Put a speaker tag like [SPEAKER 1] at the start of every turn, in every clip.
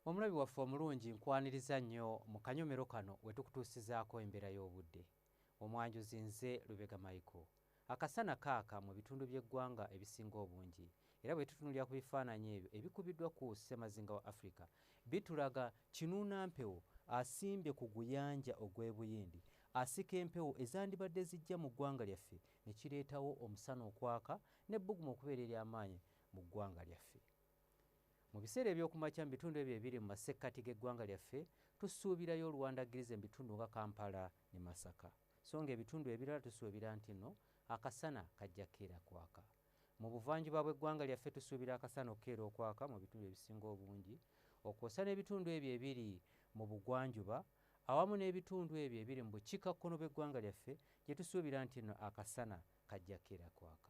[SPEAKER 1] Omulabi waffe omulungi nkwaniriza nnyo mu kanyomero kano wetukutuusizaako embeera y'obudde. Omwanjuzi nze Lubega Michael. Akasana kaaka mu bitundu by'eggwanga ebisinga obungi era bwetutunulira ku bifaananyi ebyo ebikubiddwa ku ssemazinga wa Africa bitulaga kinuuna mpewo asimbye ku guyanja ogw'e Buyindi asika empewo ezandibadde zijja mu ggwanga lyaffe ne kireetawo omusana okwaka n'ebbugumu okubeera ery'amaanyi mu ggwanga lyaffe. Mu biseera eby'okumakya mu bitundu ebyo ebiri mu masekkati g'eggwanga lyaffe tusuubirayo oluwandaggirize mu bitundu nga Kampala ne Masaka so ng'ebitundu ebirala tusuubira nti no akasana kajja kukeera kwaka. Mu buvanjuba bw'eggwanga lyaffe tusuubira akasana okukeera okwaka mu bitundu ebisinga obungi okwosa n'ebitundu ebyo ebiri mu bugwanjuba awamu n'ebitundu ebyo ebiri mu bukiikakkono bw'eggwanga lyaffe gye tusuubira nti no akasana kajja kukeera kwaka.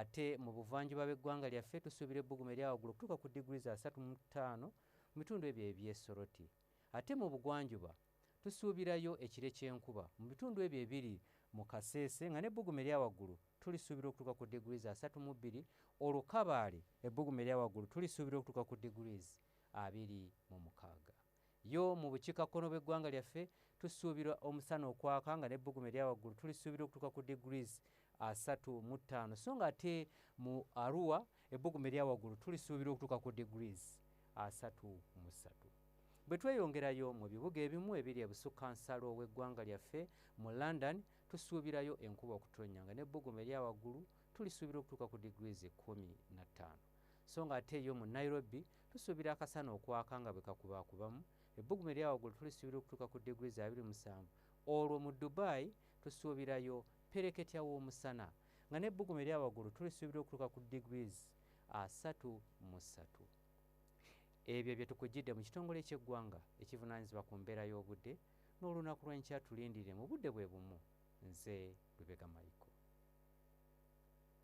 [SPEAKER 1] Ate mu buvanjuba bw'eggwanga lyaffe tusuubira ebbugumu eryawagulu okutuuka ku diguli za asatu mu ttaano mu bitundu ebyo eby'e Soroti. Ate mu bugwanjuba tusuubirayo ekire ky'enkuba mu bitundu ebyo ebiri mu Kasese nga n'ebbugumu eryawagulu tulisuubira okutuuka ku diguli za asatu mu bbiri olwo Kabale ebbugumu eryawagulu tulisuubira okutuuka ku diguli abiri mu mukaaga. yo mu bukiikakkono bw'eggwanga lyaffe tusuubira omusana okwaka nga n'ebbugumu erya waggulu tulisuubira okutuuka ku degrees asatu mu ttaano so nga ate mu arua ebbugumu erya waggulu tulisuubira okutuuka ku degrees asatu mu ssatu bwe tweyongerayo mu bibuga ebimu ebiri ebusukka nsalo w'eggwanga lyaffe mu london tusuubirayo enkuba okutonnya nga n'ebbugumu erya waggulu tulisuubira okutuuka ku degrees ekkumi na ttaano so nga ate yo mu nairobi Tusuubira akasana okwaka nga bwe kakubaakubamu, ebbugumu erya waggulu tulisuubira okutuuka ku diguli za abiri musanvu. Olwo mu Dubai tusuubirayo ppereketya w'omusana, nga n'ebbugumu erya waggulu tulisuubira okutuuka ku degrees asatu mu ssatu. Ebyo bye tukuggyidde mu kitongole ky'eggwanga ekivunaanyizibwa ku mbeera y'obudde n'olunaku lw'enkya tulindirire mu budde bwe bumu. Nze Lubega Michael.